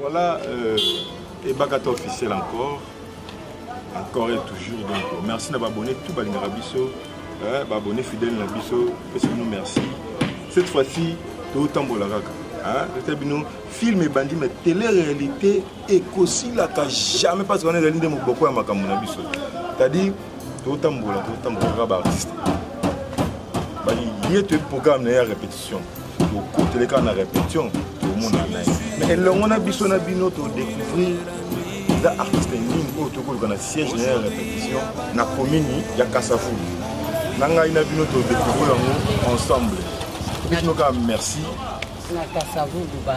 Voilà, euh, et Bagata officiel encore. encore et toujours donc merci na baabonné tout balingaka biso eh, baabonné fidèle na biso pesi bino merci cette fois-ci totambola kaka totia bino film ebandi mais télé réalité ekosilaka jamais parce wana ezali nde moboko ya makambo na biso c'est-à-dire totambola totambola kaka baartiste ye toyebi programme na ye ya répétition tokotele kaka na répétition tomona na ye mais elongo na biso na bino todécouvrir eza artiste nini oyo tokoluka na siège na ye ya répétition na commune ya kasafu na ngai na bino todécouvrir yango ensemble bino kaka merci na kasavudu ba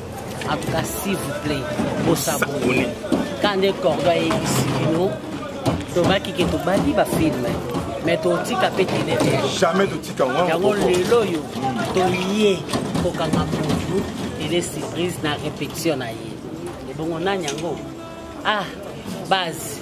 en tout cas s'il vous plaît bosabone ka nde cordo ayebisi bino tobaki ke tobandi bafilme mais totika mpe telejamais totika yango lelo oyo toye kokanga motu ele surprise na répétition na ye ebongo nani yango ah base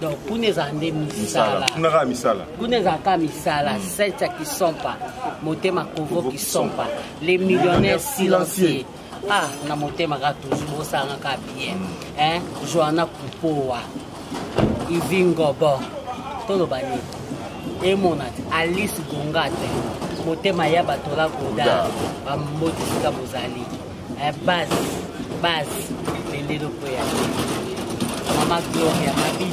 donc kuna ezala nde misala kuna kaka misala kuna ezala kaka misala hmm. sete kisompa motema kovo kisompa les millionnaires silencieux ah na motema kaka toujours bosanga kaka bien hmm. hein joana kupowa ivingobo toloba nini emona te alice gongate motema ya bato la goda bamboti sika bozali Eh, bas bas lendelo ko ya mama gloria mabiti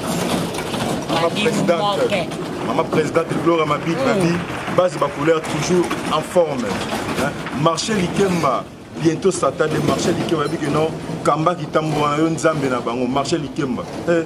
mama presidente mama presidente gloria mabiti mm. babi base bacouleur toujours en forme hein? marché likemba bientôt satan de marché likemba babi ke non kamba kitambo wana yo nzambe na bango marché likemba eh.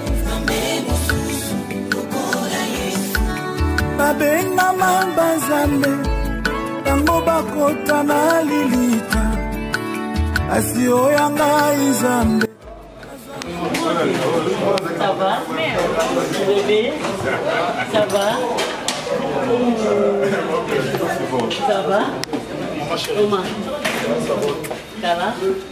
babengama banzambe yango bakota na lilita asi oya ngai nzambe Ça va Bébé Ça va Ça va Oma Ça va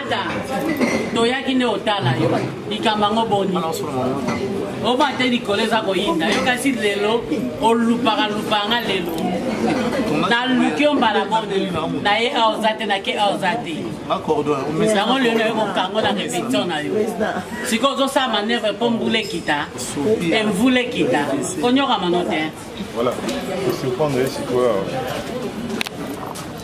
ata toyaki nde otala yo likambo yango boni oba te likolo eza koyinda yo kasi lelo olupaka lupaka nga lelo naluki yo mbala boni na ye awa oza te nake awa oza te yango lelo naye kokango na repetition na yo sikoyo ozosala manevre mpo mbula ekita emvula ekita konyokama no te voilà. Je suis au point de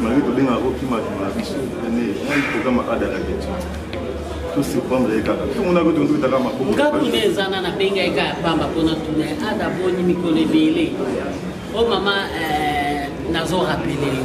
malgré tobengaka kokima kima na biso ene nani programe ada na bitu tosurprendre ye kaka tomonaka oto ntotaka maboko nga kuna eza na nabenga ye kaka pamba mpona tuna ada boni mikolo ebele o oh, mama eh, nazo rapele yo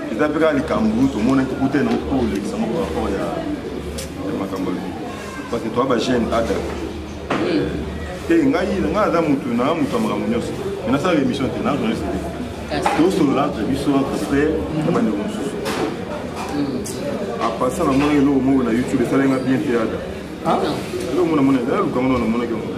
eza mpe kaka likambo tomonaki kuta na mpo olekisa moko rapport ya makambo alobi parce que toa bagene ada te ngai ngai aza motu na motu ya makambo nyonso me nasala émission te na journaliste te tosolola entre biso entre frère na bandeko mosusu apasa na mwana eloko moko na youtube esalenga bien te ada eloko mona mona eza lukango na namonaki yango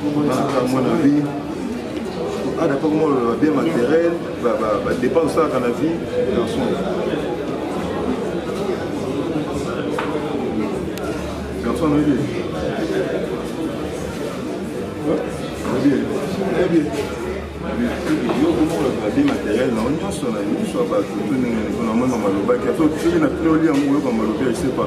Baka mwana vie ada mpe komona ba bien matériel ba dépense osalaka na vie garçon garçon noyebi oyebi yo komona ba bien matériel na nyonso na nyonso ya bato to ndenge na mona malobaki soki na pnoli yango oyoka malobi ya sepa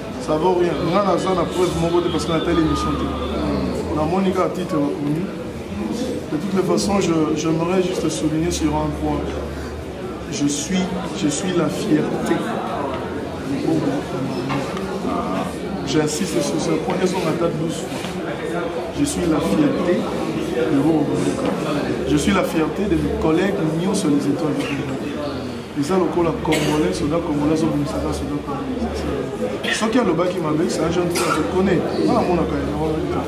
ça vaut rien nga naza na preuve moko te parce que natali émission te namoni kaka titre bakomi de toutes les façons j'aimerais juste souligner sur un point je suis je suis la fierté j'insiste sur ce point ezonga ata 12 fois je suis la fierté de Bobo je suis la fierté de mes collègues sur les étoiles de Bobo eza lokola congolais soda congolais azobimisaka soda congolais soki alobaki mabe c'est un jeune frère je connais nga namonaka ye na wana lita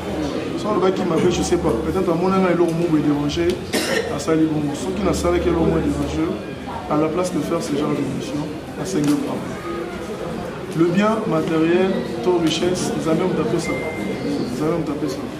soki alobaki mabe je sais pas peut-être amonanga eloko moko edérange asali bongo soki nasalaki eloko moko edérange à la place de faire ce genre d'émission asengi papa le bien matériel to richesse nzambe moto apesaka nzambe moto apesaka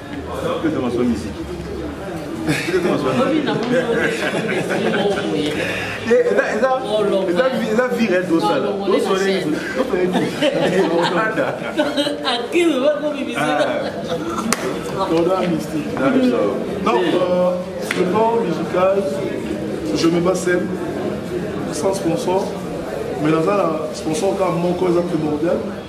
eza vire tosala donc le plan musical je me bats seul sans sponsor mais naza na sponsor kaka moko eza primordial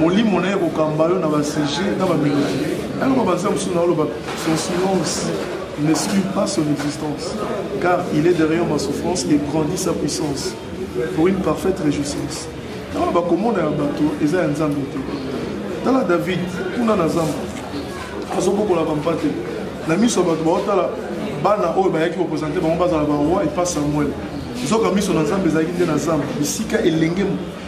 molimo na ye kokamba yo na basije na bamelodi ayoko banzela mosusu na oloba son silence n'exclut pas son existence car il est derrière ma souffrance et grandit sa puissance pour une parfaite réjouissance ntango bakomona ya bato eza ya nzambe te tala david kuna na zamba azobokola bampate na miso ya bato baotala bana oyo bayaki kopresente bango bazala baroi epa samuel nzoka miso na nzambe ezalaki nde na zamba bisika elenge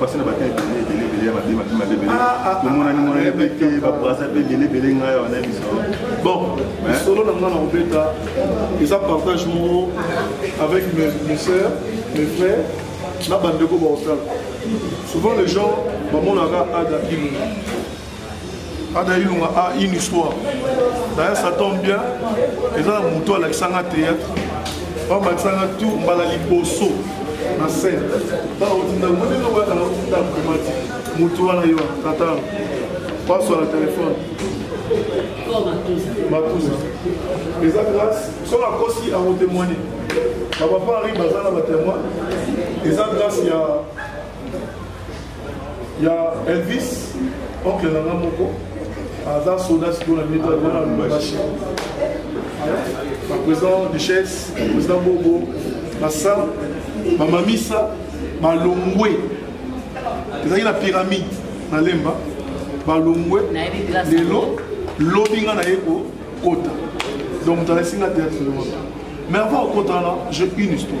basi na bata ebele ebele ebele ya mabe mabe mabe ebele ah, ah, ah, tomonani monani mpe te babrasa mpe ebele ebele ngai awa na biso bon lisolo na ngai na kobeta eza partage moko avec mes sœurs mes frères na bandeko baosala souvent les gens bamonaka ada ilunga ada ilunga a une histoire d'ailleurs ça tombe bien eza na moto alakisanga théâtre bamakisanga tour mbala liboso na scène baotinda monene oyo azala otinda komati moto wana yo tata paso na telefone matuza eza grâce soki akosi akotemoigne bapapa ari baza na batemoin eza grâce ya ya elvis oncle na nga moko aza soda sikoyo na mito wana na lubumbashi baprésident duchesse président bobo basa bamamisa balongwe ezalaki na pyramide na lemba balongwe lelo lobi nga naye kokota donc moto alakisi nga théâtre wana mais avant okota wana j'ai une histoire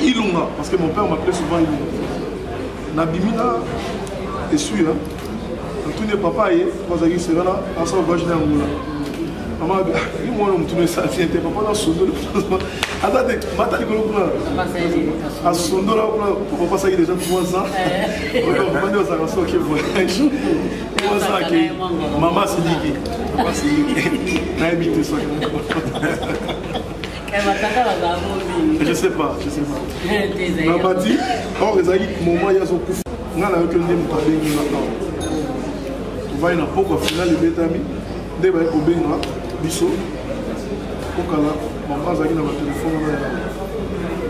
Ilunga, parce que mon père m'appelait souvent Ilunga. Nabimi na esui, hein. Natuni papa ye, bazalaki serana, asa voyage na Angola. Mama abi, ah, ye mwana mutuna esa tien te, papa na sondoli. Ata te, mata likolo kuna. Asondola kuna, papa saki déjà trois ans. Eh. Oyo papa ndio azaka soki voyage. Trois ans ke mama siliki. Papa siliki. Na ebite soki. Je sais pas, je sais pas. Na bati, or ezali moment ya zokufa. Nga na yoki nde moto abengi nga awa. Tovai na poko ya finale ebetami, nde baye kobenga biso. Kokala, mama azalaki na batelefone wana ya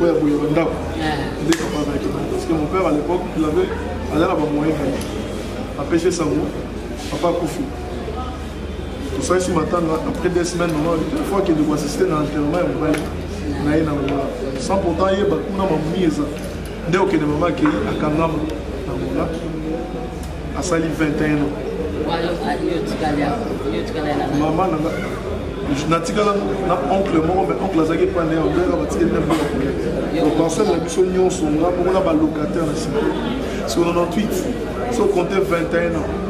oyo ya boye bandako. Nde papa azalaki na parce que mon père à l'époque, il avait azala ba moyen na ye. Apesi sango, papa akufi. tosalisi matanga après deux semaines mama une fois kende koassiste na enterrement ya mobali na ye na ngola sans pourtant ayeba kuna mamuni eza nde okende mama akei akangama na ngola asali 21 ans mama nanga natikala na oncle moko mais oncle azalaki epai na ye obelaka batikeli na mboka koya loparcelle na biso nyonso nga moko na balocataire na sima so 98 so compte 21 ans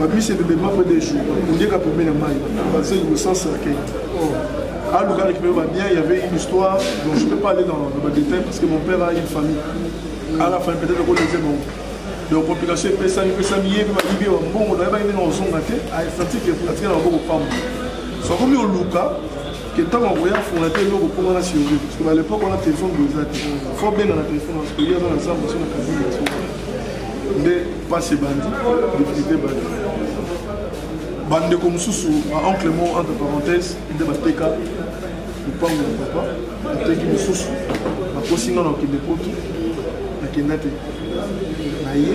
babisi ebebema mpe de jour ondieka pembe na mai baza innocent cercueil aluka récupérer ba bien il y avait une histoire donc je peux pas aller dans, dans ba détails parce que mon père a une famille à la fin peut-être qu'on disait bon donc complication epesami epesami ye mpe bayibi ya bambongo nayebaki ndenge ozonga te aestatike pratique na maboko pamba sokomi oluka ke ntango akoya afungola te eloko mpo wana surveille parce que na lepoke wana telefone boye eza te fo benga na telefone parce que ye aza na zamba so na kabine ya soki nde mpasi ebandi difficulté ebandi bandeko mosusu baoncle mo entre parenthèse nde bateka lopango ya papa bateki mosusu bakosi nga na kokende poto nakenda te na ye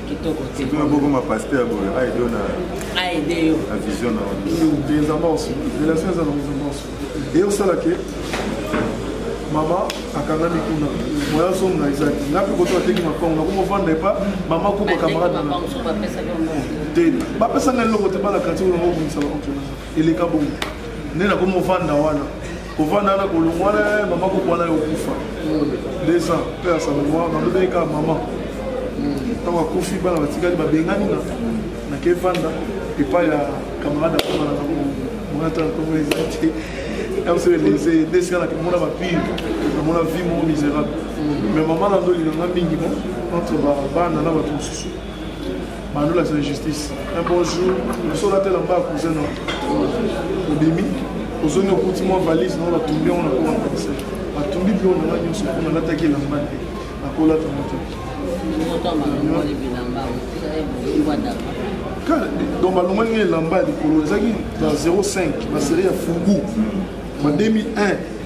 kitoko te tuna bokoma pasteur boye aide yo na aide yo na vision na eza morso relation eza na mozo morso eye osala ke mama akangami kuna moya ozonga ezaki nga mpe koto ateki mapango nakoma ovanda epa mama kuba camarade na te bapesanga eloko te bana quartier oyo nangobongisa baonkena eleka bongo nde nakoma ovanda wana kovanda na kolongwana eh, mama kokwana yo okufa deux ans mpe ya salongoa nalobeli kaka mama ntango akufi bana batikali babengani na nake vanda epai ya camarade akomana na monata na komona eza te yamosolelese nde esika nakomona bapile namona vie moko miserable mais mama na ndolinganga mingi mo entre bana na bato mosusu Manola c'est justice. Un bon jour, le sol a tel en bas cousin non. Au demi, aux zones au coûte moi valise non la tombée on a quoi en français. La tombée bio on a mis sur on a attaqué la main. La cola ta moto. donc balonga ndenge elamba ya likolo ezalaki ba 05 baserie ya fugu ba 2001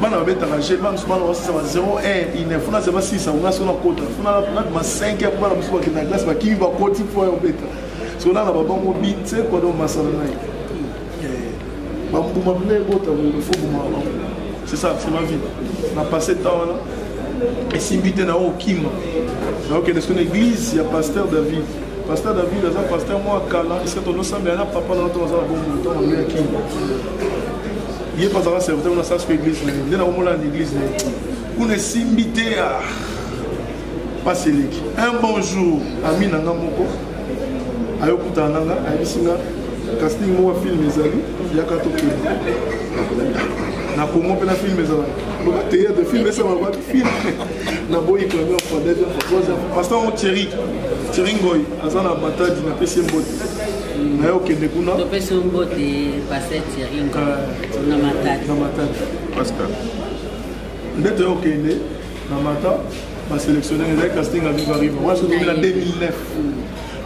bana babetaka je bana mosusu bana basisa ba 0 1 ine funa zeba 6 yango nasi nakota funa nabima 5 ya bana mosusu bakenda na glase bakimi bakoti mpo ya obeta so nana babango binse kwado masala na ye bambuma mpe ebota fo buma bango c'est ça c'est ma vie na passé temps wana esimbi te na okima naokende soki na église ya pasteur david pasteur david aza pasteur mwa kala esika tonosambela na papa na toaza na bomoto na mbeya kima ye mpe azalaka serviteur kuna sasko église na ye nde nakomona na église na ye kuna esimbi te mpasi eleki un bon jour ami na nga moko ayokutana na nga ayebisi nga casting moko ya filme ezali yaka tokende na congo mpe na filme ezalaka loba théâtre filme esalaka bato filme na boyi premier fois deuxième fois troisième fois pasteur thierry thierry ngoy aza na matadi na pesi mbote na yo okende kuna topesi mbote pasteur thierry na matadi na matadi pascal nde toya okende na mata baselectionner ezali casting ya viva riva wana soki na 2009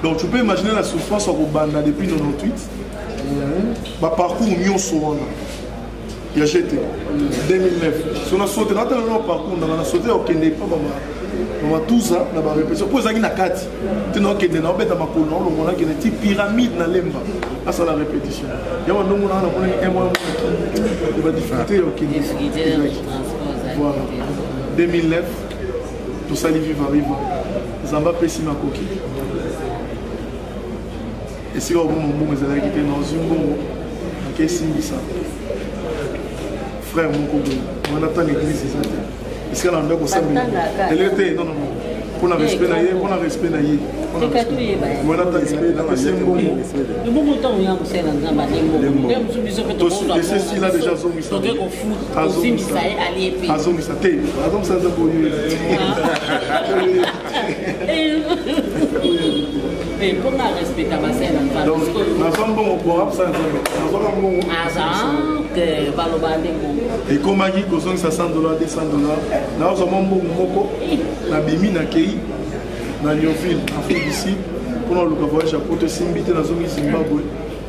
donc tu peux imaginer la souffrance ya kobanda depuis 98 baparcours nyonso wana ya gt 2009 so na sote na tala na parcours nanga na sote ya kokende epa bama matuza na barepetition mpo ezalaki na kati te naokende na obeta makolo na olongo nakende ti pyramide na lemba asala repetition yango ndongo nanga namonaki emwana monaki badifficulté ya okende voilà 2009 tosali viva viva nzambe apesi makoki esika obongo mbongo ezalaki te nazwi mbongo nakesimbisa frère moko boye wana ntango église eza te esika na ndako osambeli lelo te non non mpo na respect na ye mpo na respect na ye wana ntangoese mbongo esila deja azongisa azongisa te azongisa nzambe oyo ekomaki kozongisa 100 dollar 200 dollar nazwa mwa mbongo moko nabimi nakei na lionville afrique du sud mpona luka voyage ya poto esimbi te nazongi zimbabwe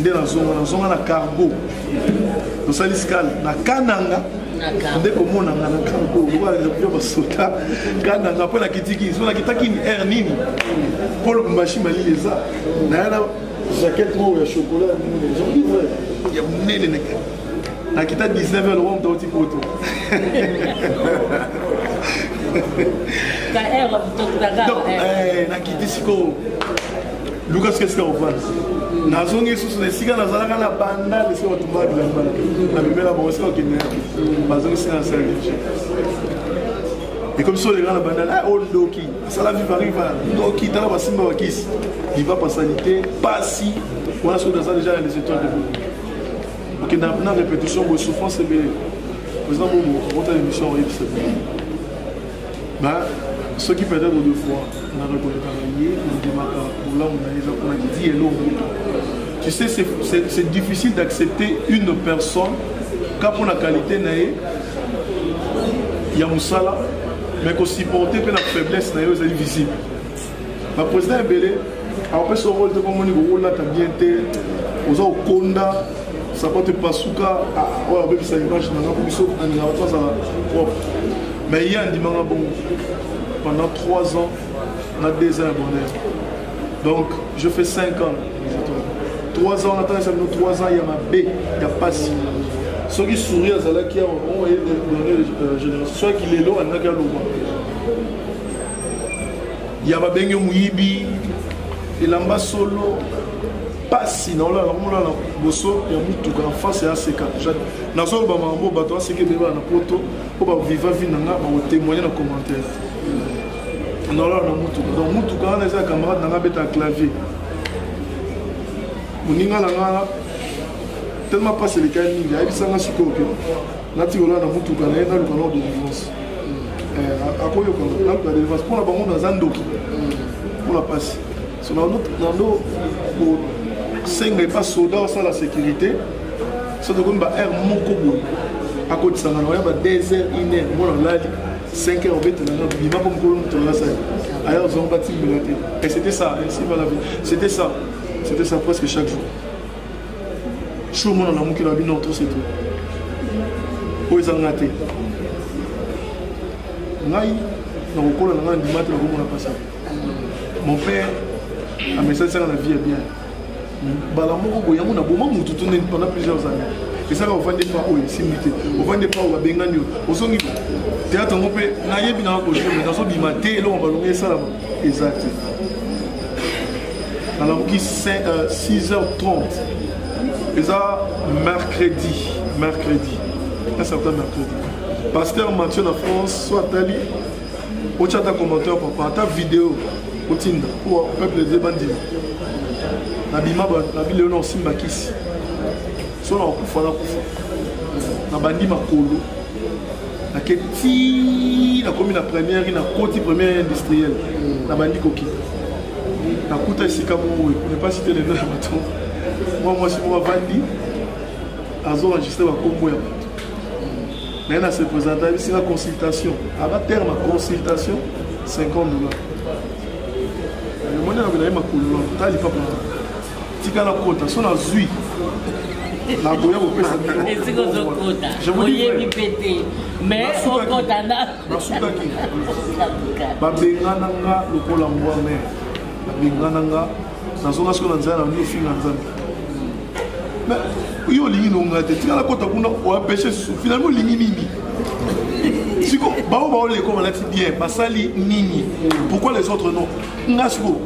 nde nazonga nazonga na cargo tosali scale na kananga nde komona nga na cargo lokola basota kananga mpo nakitiki so nakitaki air nini mpo lubumbashi malili eza naya na jaquette moko ya chocolat ya monene ezongi vrai ya monene naka nakita 19 heure lokola moto auti poto nakiti sikoyo luka soki esika ofanda nazongi lisusu na esika nazalaka na banda esika batumbaka bilamba na bimela bango esika bakende bazongisika na sala liturgie ekomisi olenga na banda na oyo ndoki asala vivariva ndoki tala basimba bakisi libapa asali te pasi wana soki naza deja na les étoiles de boki okenda na répétition boye souffrance ebele président bobo akota émission oyebisa bino ba soki peut-être deux fois na reconnaîtaka ye nandimaka bolamu na ye eza mpona kidi elo moto tu sais c'est difficile d'accepter une personne ka mpo na qualité na ye ya mosala mais kosupporte mpe na faiblesse na yo ezali visible ba président ebele akopesa yo role te komoni kokolata bien te oza kokonda sapato epasuka ah, oyo abebisa image na nga biso alinga bato azala propre mais ye andimanga bongo pendant 3 ans na 2 ans ya bonheur donc je fais 5 ans 3 ans natangisa bino 3 ans ya mabe ya pasi soki souri azalaki awa oye génération soki lelo alingaki aloba ya babenge moyibi elamba solo mpasi na olala komona na boso ya motuka na face ya seka nazoloba makambo bato baseka ebele bana na poto mpo baviva vi na nga bakotemoigne na commentaire naolala na motuka donc motuka wana eza camarade na nga abeta clavier moninga na nga tellement mpasi elekaki mingi ayebisanga sikoyo ke natika olaa na motuka na ye naluka nao delivrance eh, akoyokana naluka delivrance mpo na bango naza ndoki mpo na mpasi so nando kosenga epa soda osala sécurité so tokomi ba heure moko boye akotisanga na oya ba 2 heures 1 heure mwana olali 5 heures obetela nga bima mpo mokolo moto olasali aya ozongo batimbela te et c'était ça ainsi va la vie c'était ça c'était ça presque chaque jour jour mona na mokili na bino to setu oyo eza nga te ngai na kokola na ngai ndima te na komona mpasi mon père amesalisaka na vie ya bien mbala moko boye yango naboma motu to nde pendant plusieurs années esaka ovandi epa oyo esimbi te ovandi epa oyo babengani yo ozongi théâtre yango mpe nayebi nanga kojeme nazobima te eloko balongi esalama eza te nalamuki 6h30 eza mercredi mercredi un certain mercredi pasteur mathieu na france so atali otya ata commentaire papa ata video otinda mpo peuple eze bandima nabima na bilelo na osimba kisi so na kokufa nakufa nabandi makolo nake ti nakomi na première na koti première industrielle mm. nabandi koki nakuta esika moko ne pas citer le nom ya bato mwa mwasi moko avandi azoenregistre bakombo ya bato naye na se présente ayebisinga consultation aba terme ya consultation 50 dollars omoni yango naye makolo na tali papa tika na kota so nazwi nakoya kopesa esika ozokota oyebi mpe te mais okota na nasukaki babengana nga lokola mbwa mare babengana nga nazonga siko na nzela na bino finga nzambe yo olingi nonga te tika nakota kuna oapeche susu finalement olingi nini siko bao baoleko balati bien basali nini pourquoi les autres non nga siko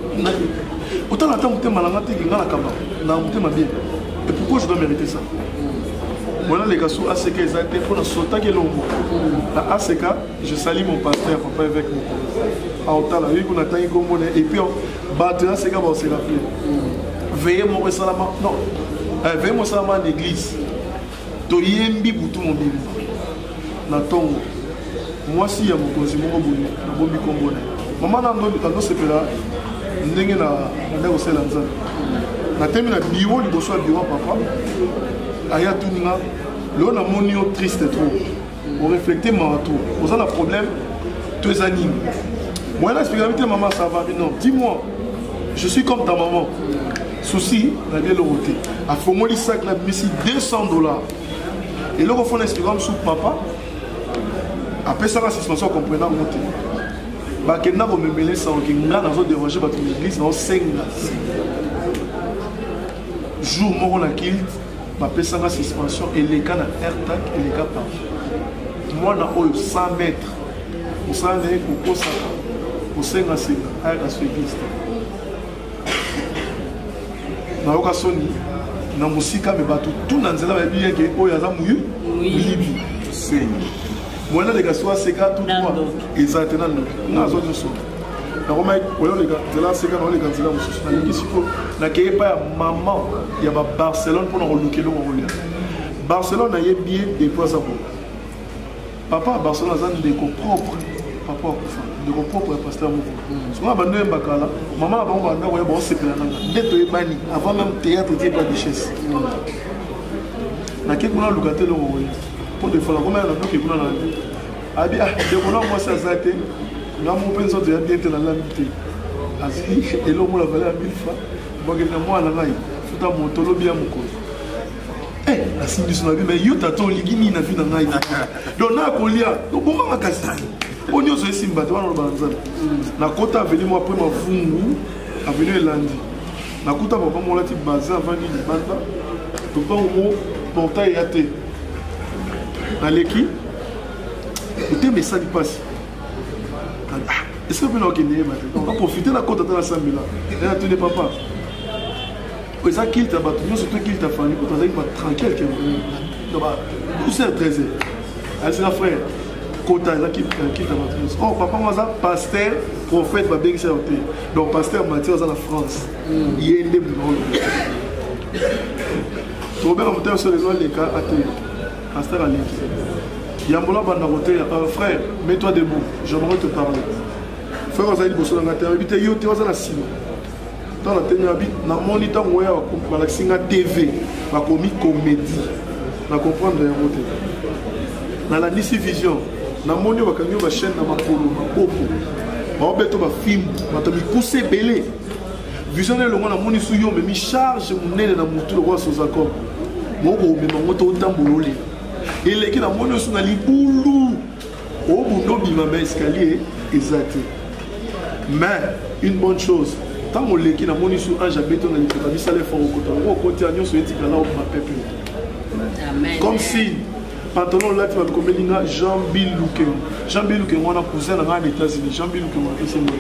otala ata motema na nga te ke nga na kaba na motema bien et pourquoi je dois mériter ça mwana leka so aseka eza te mpo nasotaki elongo na aseka je sali mon pasteur papa évêque moko aotala yoki kuna atangi kombo na epuis bato ya seka baoseka mpe veye moko esalama non eh, veye moko esalama na église toyembi butu mobimba na ntongo mwasi ya mokonzi moko boye nabomi nkombo na ye mama na andosepela ndenge na banda kosala nzambe natemi na biro liboso ya biro ya papa aya tuni nga lelo namoni yo triste trop oreflecte mawa trop oza na problème to eza nini moyen na expliquami te maman ça va non dis moi je suis comme ta maman souci nabi eloko te afongoli sac na bimisi 200 dollars eloko fo na expliquaka mosusu papa apesaka suspension comprena yango te bakenda komemele sango ke nga nazo derange bato na église naosenga jour moko na kilt bapesaka suspension eleka na airtak eleka pa mwana oyo 100 mètre mosala na ye kokosaka kosengasenga ayaka suivise te nayoka soni na mosika me bato tu na nzela bayebi yeke oyo aza moyu moyibi sengi mwana leka so aseka tu eza te na ndoki nga azwa nyonso nakomaki koleka nzela aseka nakoleka nzela mosusu nalingi sikoyo nakei epai ya mama ya babarcelone mpo na koluka eloko kolia barcelone nayebi ye depuis aza boye papa ya barcelone aza ndeko propre papa akufa ndeko propre ya paster moko sikoyo na bando oyemba kala mama na bango banda koya baosepela nanga nde toyebani avant même théâtre tie pa duchesse nake kuna luka te eloko kolia mpo defala komaya na doke kuna na abi ah, ndeko na mwasi aza te nga mo mpe nzoto ya bien te nalambi te azwi elongo na valeur ya 1000 franc bakeli na mwana ngai futa moto lobi ya mokolo eh, nasimbi biso na bi mai yo tata olingi nini na vi na ngai donc nakolia oboma makasi oyo nyonso esimba te wana olobana nzambe nakota aveni mwa apres mavungu aveni elandi nakuta papa molati baze avandi libanda lopango mo portail ya te naleki motema esali mpasi ah, esika mpe nakokende yeba te donc aprofite na kota ata nasambela ena tuni papa eza kilte ya bato nyonso to kilte ya fani kutu azalaki batranquille ke 12 heures 13 heures ayesika frère kota eza kilte ya bato nyonso or oh, papa ngo aza paster prophète babengisa yo te donc paster matière aza na france hmm. ye nde monaolo tobela motema so lelo aleka atelema Pasteur Aleki. Yambola banda koteya. Euh, frère, mets-toi debout. J'aimerais te parler. Frère, ozali liboso na ngai te. Nayebi te yo te oza na nsima. Ntango natemi nabi, namoni ntango oya balakisi nga TV, bakomi comédie. Na comprendre yango te. Nalandisi vision. Namoni oyo bakangi yo bachaîne na makolo, maboko. Baobeto bafimbu, bato mikuse ebele. vision na elongo namonisi yo omemi charge monene na motu lokola sozacom moko omema ngo to otambola olela eleki namoni osu na libulu obunda obima ma escalier eza te mais une bonne chose ntango oleki namoni su ange abeto na lipeka bisala efort okota ngo okoti ya nyonso etikala okoma pepe comme signe pantalon olati bato komeli nga jean bill lukeng jean bill lukeng wana cousin na ngai na états-unis jean bill lukeng apesi nga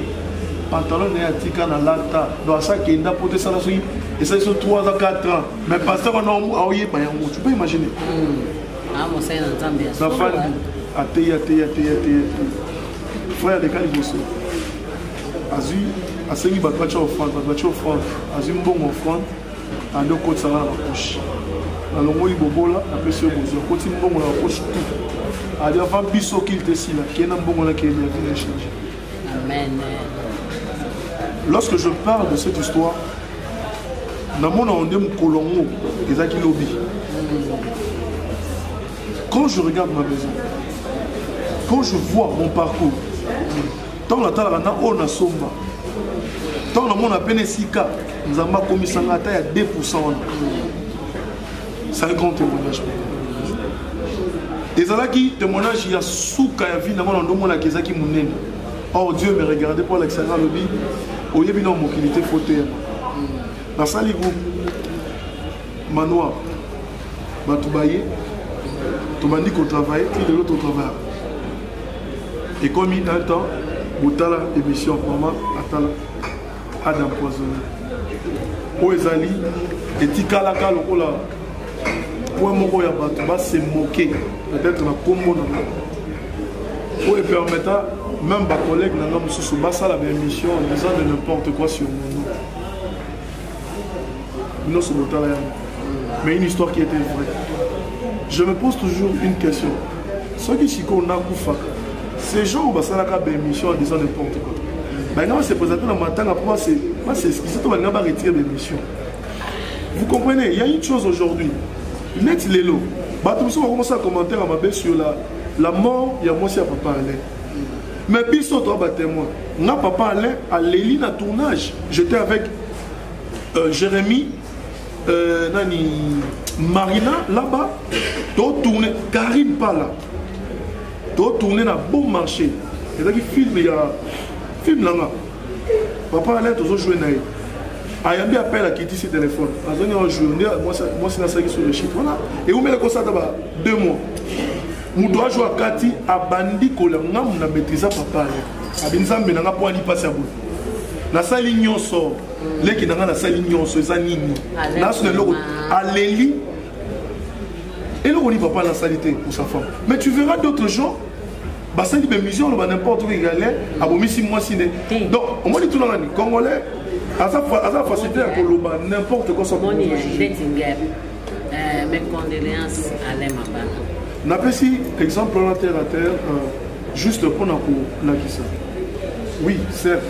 pantalon na ye atika na lata do asakenda mpo te esala soki esali so 3 ans 4 ans mais pasteur wana aoyeba yango tu peux imaginer nafandi ateyi ateyi ateyi ateyi frère aleka liboso azwi asengi bato batya offrande bato batya offrande azwi mbongo offrande ande okotisa nga na bapoche nalongoli bobola napesi yo bozwi akoti mbongo na bapoche tu adi avant biso okili te sila kee na mbongo na kee yavi na échange lorsque je parle de cette histoire namona onde mokolo yango ezalaki lobi quand je regarde ma maison quand je vois mon parcours ntango natalaka na oyo nasomba ntango namona pene esika nzambe akomisanga ata ya 2 pourcent wana sali grand témoignage ezalaki témoignage ya suka ya vie nango na ndomonaka ezalaki monene or dieu me regarde mpo alakisanga alobi oyebi na mokili te fo teyama nasali groupe manoir bato baye tobandi kotravaille ti lelo totravaille ekomi un temps botala émission mama atala ada empoisonné oyo ezali etikalaka lokola point moko ya bato basemoke peut-être na nkombo na nga oyo epermeta même bacollègue na nga mosusu basala baémission en disant de n'importe quoi sur mon nom Binoso botala yango. Mais une histoire qui était vraie. Je me pose toujours une question. Ceux qui sikoyo nakufa, ces gens oyo basalaka baémission en disant n'importe quoi. Balinga ba se présenter na matanga mpo baseskise to balinga ba retire baémission. Vous comprenez, il y a une chose aujourd'hui. Net lelo, bato mosusu bakomosala commentaire ya mabe sur la, la mort ya mwasi ya papa Alain. mais biso toa ba témoin nga papa alain aleli na tournage j'étais avec euh, jérémie euh, nani marina laba totourne karine pala totourne na bon marché ezalaki film ya film nanga papa alain tozo joue na ye ayambi appel akitisi telefone azongi awa jour nde mwasi nasalaki sur le chiffre wana ewumeli kosata ba deux mois moto ajo akati abandi kola ngamu na maîtrisa papa alain abi nzambe na nga mpo ani mpasi ya boye nasali nyonso leki na nga nasali nyonso eza nini nasona eloko aleli eloko nini papa nasali te pour sa femme mais tu verras d'autres gens basali be musique oloba n'importe quoi galais abomisi mwasi nde donc omoni tuna nani congolais aza aza facilité ya koloba n'importe quoi ça moni ya Bettinger euh, mes condoléances à Alain Mabana napesi exemple wana terre à terre euh, juste mpo na kolakisa oui certes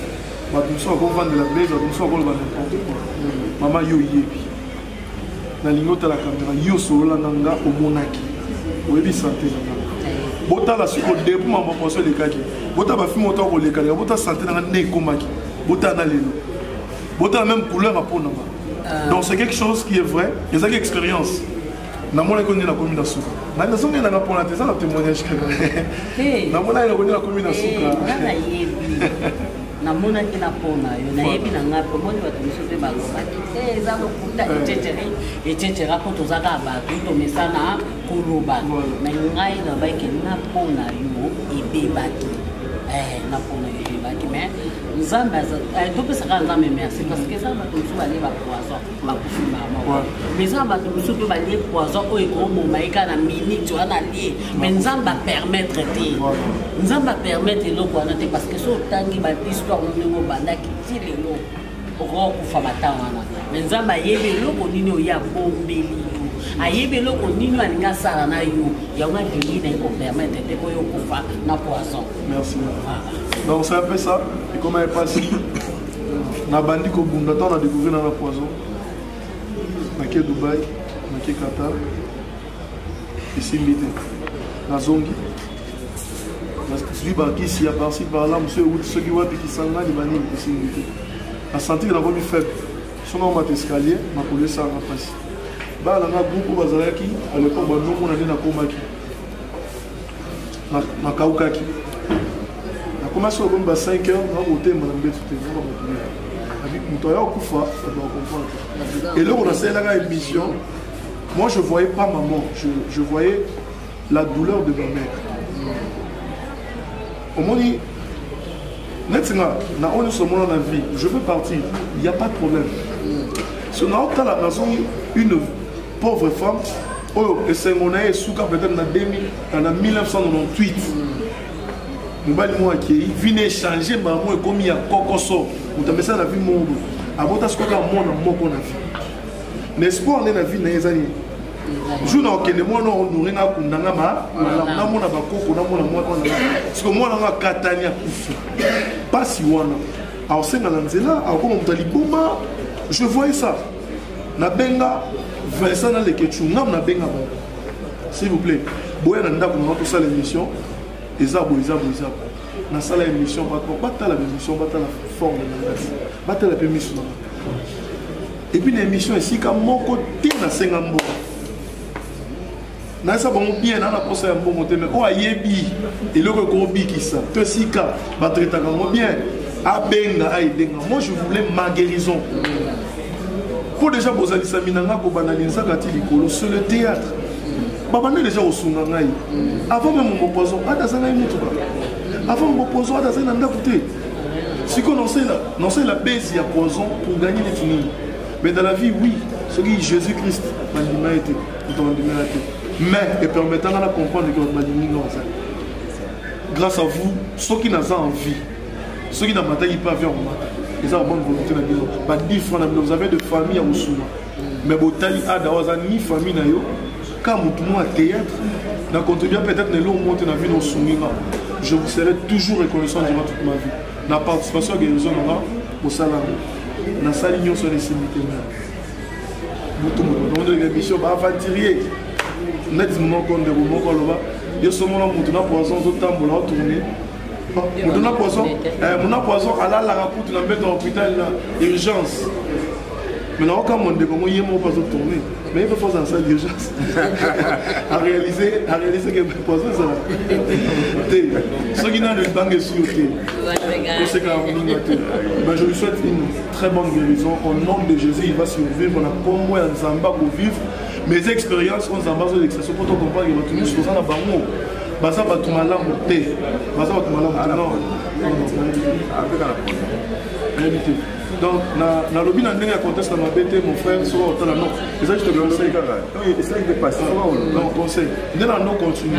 bato mosusu akovandela blaise bato mosusu akoloba n'importe quoi mama yo oyebi nalingi otala kamera yo solola na nga omonaki oyebi sante na nga botala siko depuis mambo poso elekaki botala bafilme oto akolekaleka botala sante na nga nde ekomaki botala na lelo botala même couleur apo na nga euh. donc c'est quelque chose qui est vrai ezalaki expérience namonaki onde nakomi na suka ngai nazongeli nanga mpona te eza na témoignage kaka namonaki nakondi nakomi na suka namonaki na mpo na yo nayebi na ngai mpo moni bato mosusu mpe balobaki te eh, eza lokuta ecetera ecetera mpo toza kaka bato tomesana koloba na ngai nabaki na mpo na yo ebebaki eh, na mpo na yo ebebaki mais nzambe eh, topesaka nzambe merci parce que eza bato mosusu balie bapoison bakufi mbala moko mais eza na bato mosusu mpe balie poison oyo ekoboma ye kaka na minute wana alie mais nzambe apermettre te nzambe apermettre eloko wana te parce que so otangi bahistoire no ndenge obandaki ti lelo okoka kokufa batang wana mais nzambe ayebi eloko nini oye abombeli yo ayebi eloko nini alingi asala na yo yango alingi na ye kopermettre te mpo yo okufa na poison merci donc ça apesa ekoma epasi nabandi kobunda ntango na découvrir na na poison nake dubai nake qatar esimbi te nazongi nazwi bakisi ya parci parla mosu euti soki wapi kisangani banini esimbi te nasanti ke nakomi faible soki omata escalier makolo esanga mpasi bana na groupe bazalaki alepo bandomona nde nakomaki nakaukaki nakomaki soko komi ba 5 heures nakotelema na mbetu te naka bakuya moto aya okufa bakomprendre eloko nasalelaka émission moi je voyais pas maman je, je voyais la douleur de ma mère omoni neti nga na oyo nyonso omona na vie je veux partir il y a pas de problème so naotala nazongi une pauvre femme oyo esengo na ye esuka peut-être na 2000 na 1998 mobali moko akei vi na echange mbala moko ekomi ya kokoso moto amesana na vi moko boye abota sikoyo kaka mwana moko na vi na espoir nde na vi na ye eza nini jour na okende mwana onore nga akunda nga malamu namona bakoko namona mwana wana siko mwana nga akatani akufa mpasi wana aosenga na nzela akoma moto ya liboma je voyais ça nabenga vincent na lekechungam nabenga bango s'il vous plaît boya na ndako mama tosala émission eza boye eza boye eza boye nasala émission bato batala baémission batala forme na ngai batala mpe miso na ngai epuis na émission esika moko te nasenga mbongo nayesa bango bien naa na mposa ya mbongo te mai oyo ayebi eloko ekobikisa to esika batretaka yango bien abenga ayedenga moi je voulais ma guérison mpo deja bozalisami na ngai kobanda linzaka ti likolo sur le théâtre babanda deja kosunga ngai avant meme mopoison ata aza ngai motuka avant mopoison ata azali na ndako te sikoyo naosalela base ya poison pour gagner neti nini mais dans la vie oui soki jésus christ bandima ye te moto bandimela te mais epermetanga na comprendre ke bato balingi nga ozali grâce à vous soki naza en vie soki na mataki mpe avion komata eza ba bonne volonté na bino ba 10 francs na bino vous avez de famille ya kosuma mais botali ada oyo aza ni famille na yo ka motu mwa théâtre na contribua peut-être na eloko moko te na vie na osungi nga je vous serai toujours reconnaissant durant toute ma vie na participation ya guérison na nga mosala yango nasali nyonso na esimbi te mea motu motu batongondeleka émission baaventurier neti moko ndeko moko aloba yo somola motu na poison ozotambola otourne moto na poison eh, mona poison alalaka kutu na mbeto ya hôpital na urgence mais naoka mo ndeko ngo ye moko mpo azotourne mais ye mpe azala sala d'urgence aréalise aréalise ke poison ezala te soki nano libanga esui yo te osekaka moninga te mais je lui souhaite une très bonne guérison au nom de jésus il va survivre na nkombo ya nzambe akovivre mes expériences oyo nzambe azolekisa so mpo tocomprendre bato nyonso toza na bango baza bato malamu te baza bato malamu te non nayebi te donc nalobi na ndenge ya conteste na mabe te mon frère soki otala no eza juste conseil conseil nde na no continue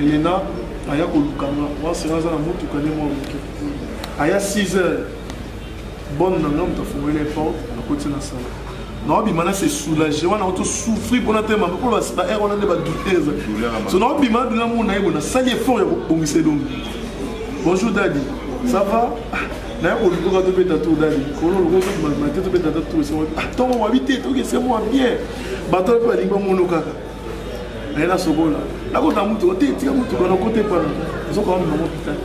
elena aya koluka nga mwasi nga aza na motuka nde mwa moke aya 6 heures bone na nga moto afungoli eporte akoti na sala naobima na se soulage wana oto souffrir mpona te mabe mpo baer wana nde badutese so naobima nadula mona ye bona sali effort ya kobongisa elongi bonjour dadi ça va naye kolukoka tobeta tour dadi kono lokoobima te tobeta ta tour ntongo wabi te tokese mwa bien bato mpe balingi bamona kaka naye nasokola nakota motuka te tika motuka nakota epana ezokaa mema mopital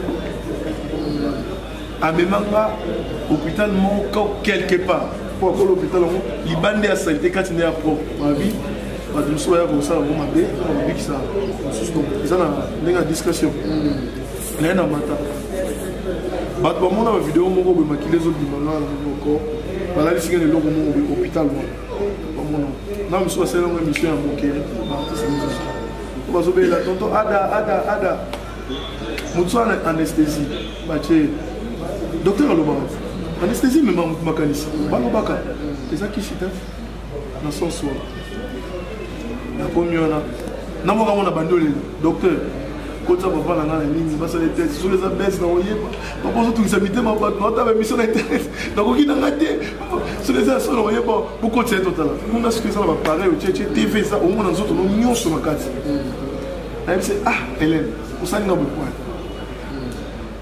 amemanga hôpital moko quelque part mpo akola hôpital yango libanda ya salite kati nde ya propre mavi bato mosusu baya kosala yango mabe babikisa mosusu donc eza na ndenge ya discrétion naye na mata bato bamona bavideo moko boye makili ezobima na moko balalisika na eloko moko boye hôpital wana omona na mosusu basali yango émission ya moke baartiste mosusu po bazobelela tonto ada ada ada motu wana anesthésie batie docteur alobaka anesthésie emema motu makanisi balobaka eza kisi te na sens wana nakomi wana na mboka yango na bandi olela docteur kotisa papa na ngai na nini basala ete soki eza bese na koyeba papa ozotungisa mitema bato naotaba emission na internet nakoki na ngai te soki eza solo oye bo bokotisa ye totala mona soki eza na bapareil otyetye tv eza omona nzoto no nyonso na kati nayebisi ah helene osali nga bokwani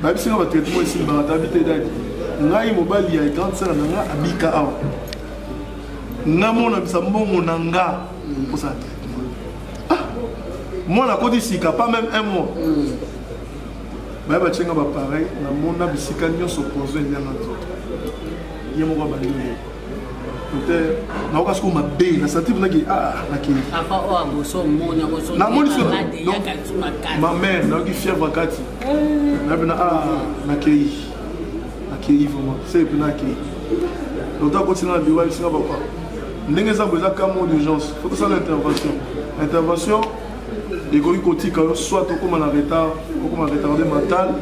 bayebisi nga batraitement esili bakatabi te dadi ngai mobali ya grande sere na nga abika awa namonamisa mbongo na nga mposana te ah, mwana akoti sika pas même un mois baye batye nga bapareil namona bisika nyonso poison elia nga nzoto ye moko abandi oye te nayoka soko mabe na sentir naki namonisoamamere nayoki fièvre kati na pena nakei nakei vraiment se pena akei lota akotina na biro ayebisinga papa ndenge eza bo eza cas mot d'urgence fo tosala intervention intervention ekoki kotika yo soit okoma na retard okoma na retarde mental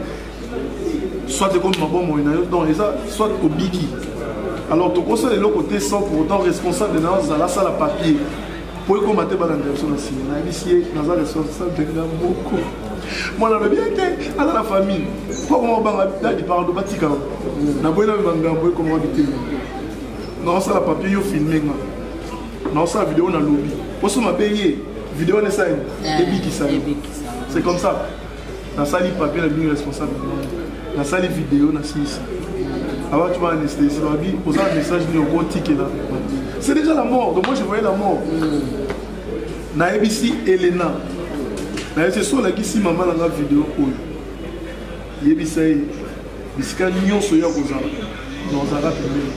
soit ekomi mabomoi na yo donc eza soit obiki alors tokosala eloko te sans pour autant responsable na yo azala asala papier mpo ekoma te balanda biso na nsima nayebisi ye naza responsable na moko mwana alobi ye te aza na famille mpo akoma kobanga dadi pardo batika na boyi na magambo ekoma bitema na osala papier yo filme nga naosala video na lobi poso mabe ye video wana esali eh, ebikisa yo c'est comme ça nasali papier na bino responsable nasali video nasilisa abatu ba anesthésie babi oza na message nini okotikela c'est déjà la mort donc moi je voyais la mort mm. nayebisi elena nayebisi so olakisi mama na nga video oyo yebisa ye bisika nyonso ya kozala na ozalaka pembeni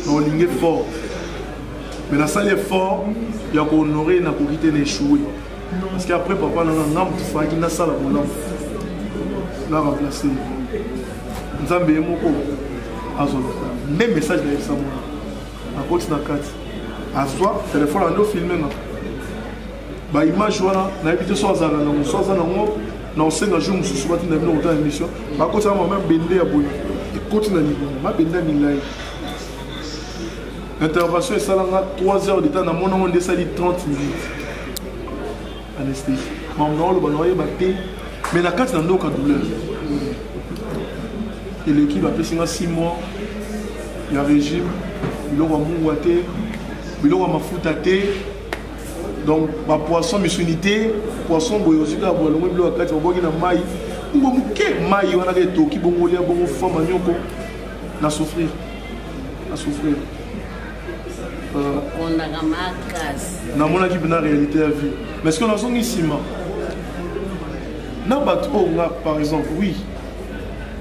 naolingi effort mais nasali effort ya kohonore nakoki te na échoué parce que après papa nanga nga moto falaki nasala bolamu na remplace nzambe ye moko azoloka nde message nayebisa mwana nakoti na kati azwa telefone ande ofilme nga baimage wana nayebi te so azalaka nango so aza nango na osenga jour mosusu batinda bino kotala émission bakotisa mama mabende ya boye ekoti na libumu mabende ya milai intervention esalanga 3 heures de temps namonango nde esali 30 minutes anesthésie mambo na oloba na oyeba te mais na kati na ndoka douleur eleki bapesi nga 6 mois ya régime biloko ya mungwa te biloko ya mafuta te donc bapoisson misuni te poisson boye ozwi kaka bolongo bilo ya kati babwaki na mai ngo moke mai wana ka etoki bongo olia bongo fama nyoko na souffrir na souffrir namonaki mpena réalité ya vie mais ceque nazongi nsima na bato oyo nga par exemple oui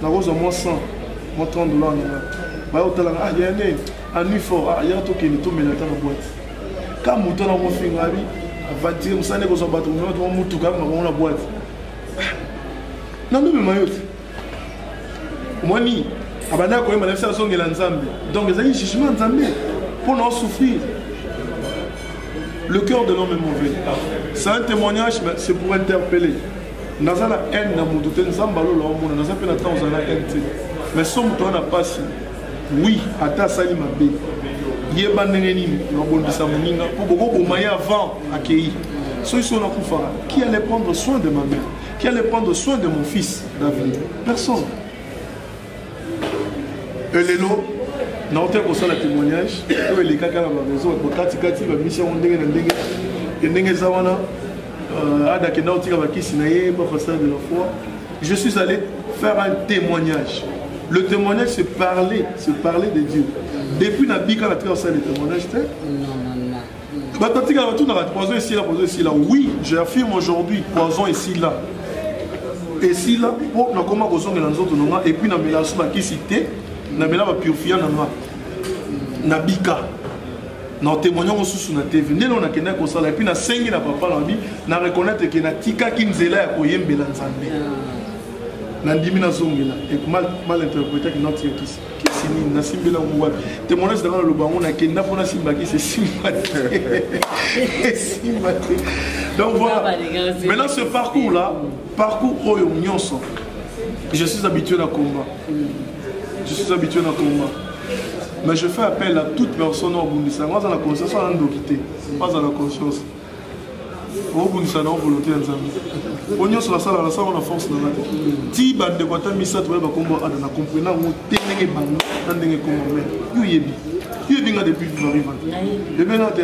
nakozwa mwa 100 mwa 30 dollar na nga bayotalaka ah ya nini anui fort ah ya tokende tomela ata na boite ka moto na kofinga abi avatire mosala ekozwa bato mona toma motuka yanga bango na bwate nandobima yo te omoni abandaki koyemba na biso azongela nzambe donc ezali jugement nzambe mpo na osouffrir le cœur de l'homme est mauvais c'est un témoignage c'est pour interpeller naza na haine na moto te nzambe alola omona naza mpe na temps ozala na haine te mais so moto wana mpasi Oui, ata asali mabe. Yeba ndenge nini babondisa moninga mpo bokoboma ye avant akei. Soki so nakufa, qui allait prendre soin de ma mère? Qui allait prendre soin de mon fils David? Personne. Elelo naote kosala témoignage oyo elekaka na bamaison bakatikati bamisi yango ndenge na ndenge ndenge eza wana Euh, Ada kenda otika bakisi na ye ba façade de la foi. Je suis allé faire un témoignage. Le témoignage c'est parler, c'est parler de Dieu. Depuis na bika na tika osala le témoignage te. Bato atika bato na poison ici là, poison ici là. Oui, j'affirme aujourd'hui poison ici là. esila mpo nakoma kozongela nzoto na nga epuis namela so bakisi te namela bapurfia na nga nabika na otemoigne yango susu na tv ndenge oyo nakendaki kosala epuis nasengi na papa na bi na reconnaitre ke natikaki nzela ya koyembela nzambe nandimi nazongela mal interpretaki noti yokisi kisi nini nasimbela yango wapi temoignage nanga naloba yango nakenda mpo nasimba kisi esimba te esimba te donc voilà maintenant ce parcours là parcours oyo nyonso je suis habitué na combat je suis habitué na combat mais je fais appel à toute personne obundisa yango aza na conscience wana ndoki te aza na conscience obundisa na volonté ya nzambe po nyonso nasala nasalaka na force nanga te ti bandeko ata misato baye bakombo ada na comprena yango te ndenge bando na ndenge kombo me yo oyebi yo oyebi nga depuis varivante ebena te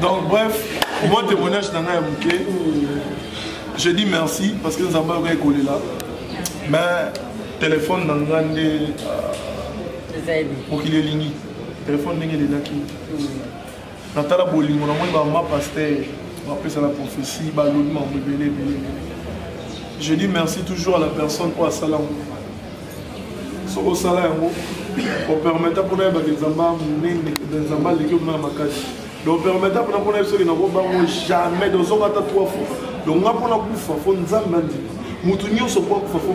donc bref moi témoignage na ngai ya moke je dis merci parce que nzambe ayoka ekolela mais telefone na nga nde euh, mokili elingi telefone ndenge elelaki natala bolingo namoni bamama paster bapesa na prophétie balobi makambo ebele ebele ebele je dis merci toujours à la personne oyo asala yango soki osala yango opermeta mpona yebaka nzambe monene nzambe aleki omona ya makasi donc opermeta mpona mpona yebi soki nakobango jamais donc soki ata trois fois donc nga mpona kufa fo nzambe andima moto nyonso mpo akufa fo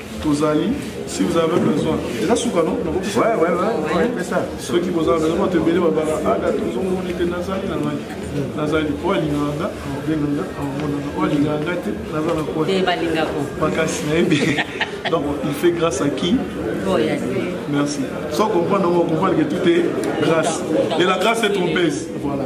tozali si vous avez besoin eza suka no soki bozala besoin bato ebele babala ada ah, tozomoni te nazali na ngai nazali oyo alingaka nga abenganga amonaka oyo alingaka nga te naza na koi makasi nayebi donc il fait grâce à qui merci sans comprendre on comprendre que tout est grâce et la grâce est trompeuse voilà